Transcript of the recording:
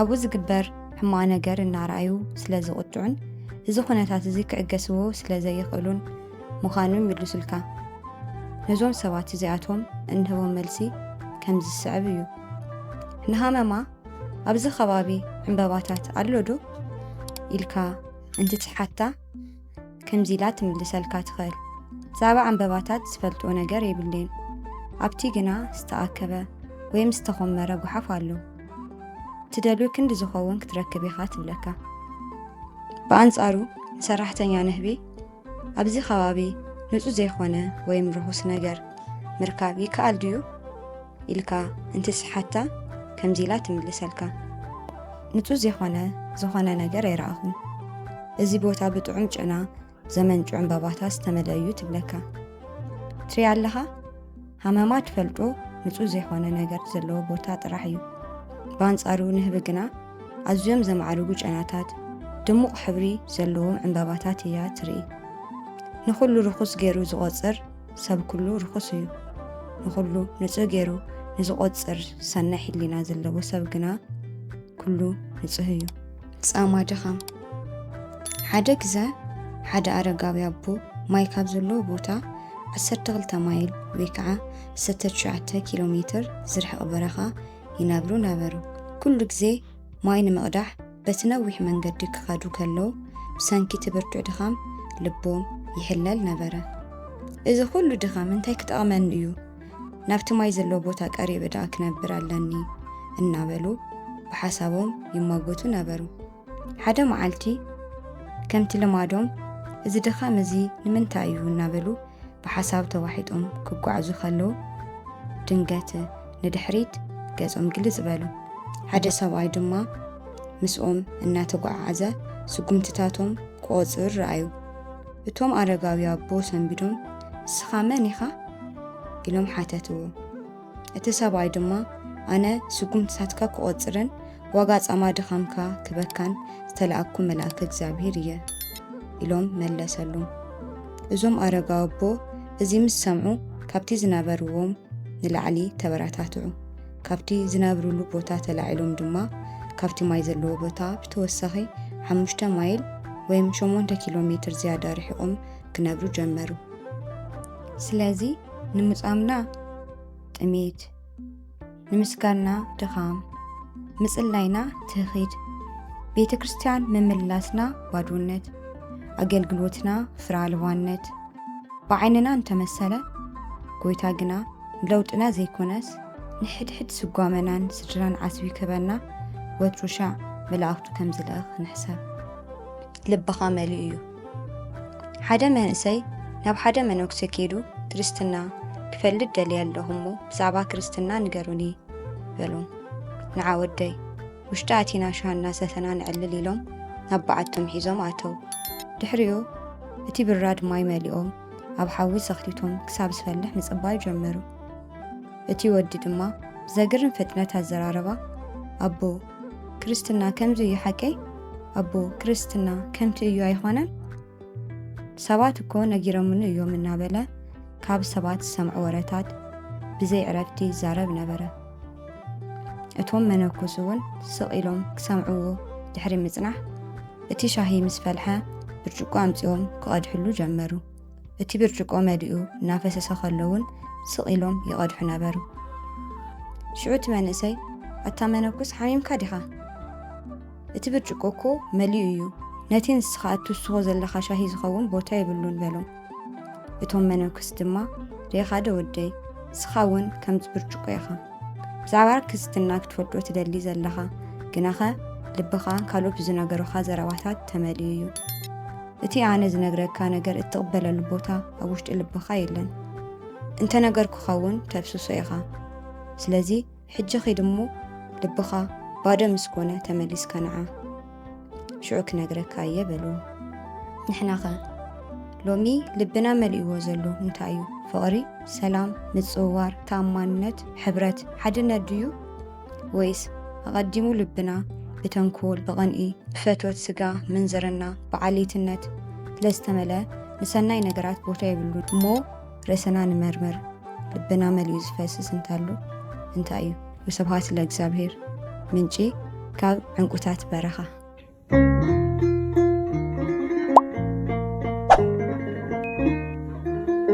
ኣብኡ ዝግበር ሕማቕ ነገር እናረኣዩ ስለ ዝቕጥዑን እዚ ኩነታት እዚ ክዕገስዎ ስለ ዘይኽእሉን ምዃኑ ይምልሱልካ። ነዞም ሰባት እዚኣቶም እንህቦም መልሲ ከም ዝስዕብ እዩ። ንሃመማ ኣብዚ ከባቢ ዕምበባታት ኣሎ ዶ ኢልካ እንትትሓታ ከምዚ ኢላ ትምልሰልካ ትኽእል፣ ብዛዕባ ዕምበባታት ዝፈልጥኦ ነገር የብለይን፣ ኣብቲ ግና ዝተኣከበ ወይም ዝተኾመረ ጉሓፍ ኣሎ፣ እትደልዮ ክንዲ ዝኸውን ክትረክብ ኢኻ ትብለካ። ብኣንጻሩ ንሰራሕተኛ ንህቢ ኣብዚ ከባቢ ንጹህ ዘይኮነ ወይም ርኹስ ነገር ምርካብ ይከኣል ድዩ? ኢልካ እንትስሓታ ከምዚ ኢላ ትምልሰልካ ንጹ ዜኾነ ዝኾነ ነገር ኣይረኣኹን እዚ ቦታ ብጥዑም ጭና ዘመንጩ ዕምባባታ ዝተመለዩ ትብለካ ትሪ ኣለኻ ሃመማ ትፈልጦ ንጹ ዜኾነ ነገር ዘለዎ ቦታ ጥራሕ እዩ ብኣንጻሩ ንህቢ ግና ኣዝዮም ዘማዕርጉ ጨናታት ድሙቕ ሕብሪ ዘለዎም ዕምባባታት እያ ትርኢ ንዅሉ ርኹስ ገይሩ ዝቖጽር ሰብ ኩሉ ርኹስ እዩ። ንኹሉ ንጹህ ገይሩ ንዝቖጽር ሰናይ ሕሊና ዘለዎ ሰብ ግና ኩሉ ንጹህ እዩ። ጻማ ድኻም ሓደ ግዘ ሓደ ኣረጋዊ ኣቦ ማይ ካብ ዘለዎ ቦታ 12 ማይል ወይ ከዓ 19 ኪሎ ሜትር ዝርሕቕ በረኻ ይነብሩ ነበሩ። ኩሉ ግዜ ማይ ንምቕዳሕ በቲ ነዊሕ መንገዲ ክኸዱ ከለዉ፣ ብሰንኪ እቲ ብርቱዕ ድኻም ልቦም ይሕለል ነበረ። እዚ ዅሉ ድኻም እንታይ ክጠቕመኒ እዩ? ናብቲ ማይ ዘለዎ ቦታ ቀሪበ ደኣ ክነብር ኣለኒ፣ እናበሉ ብሓሳቦም ይሟገቱ ነበሩ። ሓደ መዓልቲ ከምቲ ልማዶም እዚ ድኻም እዚ ንምንታይ እዩ? እናበሉ ብሓሳብ ተዋሒጦም ክጓዕዙ ከለዉ ድንገት ንድሕሪት ገጾም ግልጽ በሉ። ሓደ ሰብኣይ ድማ ምስኦም እናተጓዓዓዘ ስጉምትታቶም ክቖጽር ረኣዩ። እቶም ኣረጋዊ ኣቦ ሰንቢዶም እስኻ መን ኢኻ? ኢሎም ሓተትዎ። እቲ ሰብኣይ ድማ ኣነ ስጉምትታትካ ክቆጽርን ዋጋ ጻማ ድኻምካ ክበካን ዝተላእኩ መልኣከ እግዚኣብሔር እየ ኢሎም መለሰሉም። እዞም ኣረጋዊ ኣቦ እዚ ምስ ሰምዑ ካብቲ ዝነበርዎም ንላዕሊ ተበረታትዑ። ካብቲ ዝነብርሉ ቦታ ተላዒሎም ድማ ካብቲ ማይ ዘለዎ ቦታ ብተወሳኺ ሓሙሽተ ማይል ወይም ሸሞንተ ኪሎ ሜትር ዝያዳ ርሒቖም ክነብሩ ጀመሩ። ስለዚ ንምጻምና ጥሜት፣ ንምስጋና ድኻም፣ ምጽላይና ትህኺድ፣ ቤተ ክርስቲያን ምምላስና ባዶነት፣ ኣገልግሎትና ፍረ ኣልባነት ብዓይንና እንተመሰለ ጎይታ ግና ንለውጥና ዘይኮነስ ንሕድሕድ ስጓመናን ስድራን ዓስቢ ክበና ወትሩ ሻዕ መላእኽቱ ከም ዝልእኽ ንሕሰብ። ልብኻ መሊኡ እዩ። ሓደ መንእሰይ ናብ ሓደ መነኩሴ ኬዱ ክርስትና ክፈልጥ ደልየ ኣለኹ እሞ ብዛዕባ ክርስትና ንገሩኒ በሎም። ንዓ ወደይ ውሽጢ ኣቲና ሻሃ እናሰተና ነዕልል ኢሎም ናብ በዓቶም ሒዞም ኣተው ድሕሪኡ እቲ ብራድ ማይ መሊኦም ኣብ ሓዊ ዘኽቲቶም ክሳብ ዝፈልሕ ምጽባይ ጀመሩ እቲ ወዲ ድማ ብዘግርም ፍጥነት ኣዘራረባ ኣቦ ክርስትና ከምዚ እዩ ሓቀይ ኣቦ ክርስትና ከምቲ እዩ ኣይኾነን ሰባት እኮ ነጊረምኒ እዮም እናበለ ካብ ሰባት ዝሰምዑ ወረታት ብዘይ ዕረፍቲ ይዛረብ ነበረ እቶም መነኩስ እውን ስቕ ኢሎም ክሰምዕዎ ድሕሪ ምጽናሕ እቲ ሻሂ ምስ ፈልሐ ብርጭቆ ኣምጺኦም ክቐድሕሉ ጀመሩ እቲ ብርጭቆ መሊኡ እናፈሰሰ ከሎ እውን ስቕ ኢሎም ይቐድሑ ነበሩ ሽዑ እቲ መንእሰይ ኣታ መነኩስ ሓሚምካ ዲኻ እቲ ብርጭቆ እኮ መሊኡ እዩ ነቲ ንስኻ እትውስኾ ዘለኻ ሻሂ ዝኸውን ቦታ የብሉን በሎም እቶም መነኩስ ድማ ሬኻ ዶ ወደይ ንስኻ እውን ከምዚ ብርጭቆ ኢኻ ብዛዕባ ርክስትና ክትፈልጦ ትደሊ ዘለኻ ግናኸ ልብኻ ካልኦት ብዝነገሩኻ ዘረባታት ተመልዩ እዩ እቲ ኣነ ዝነግረካ ነገር እትቕበለሉ ቦታ ኣብ ውሽጢ ልብኻ የለን እንተነገርኩኻ እውን ተፍስሶ ኢኻ ስለዚ ሕጂ ኺድ እሞ ልብኻ ባዶ ምስ ኮነ ተመሊስካ ንዓ ሽዑ ክነግረካ እየ በልዎ ንሕናኸ ሎሚ ልብና መሊእዎ ዘሎ እንታይ እዩ ፍቕሪ ሰላም ምፅውዋር ተኣማንነት ሕብረት ሓድነት ድዩ ወይስ ኣቐዲሙ ልብና ብተንኮል፣ ብቕንኢ፣ ብፈትወት ስጋ፣ ምንዝርና፣ ብዓሌትነት ስለዝተመልአ ንሰናይ ነገራት ቦታ የብሉን? እሞ ርእስና ንመርምር፣ ልብና መሊኡ ዝፈስስ እንተሎ እንታይ እዩ? ወስብሃት ለእግዚኣብሔር። ምንጪ ካብ ዕንቁታት በረኻ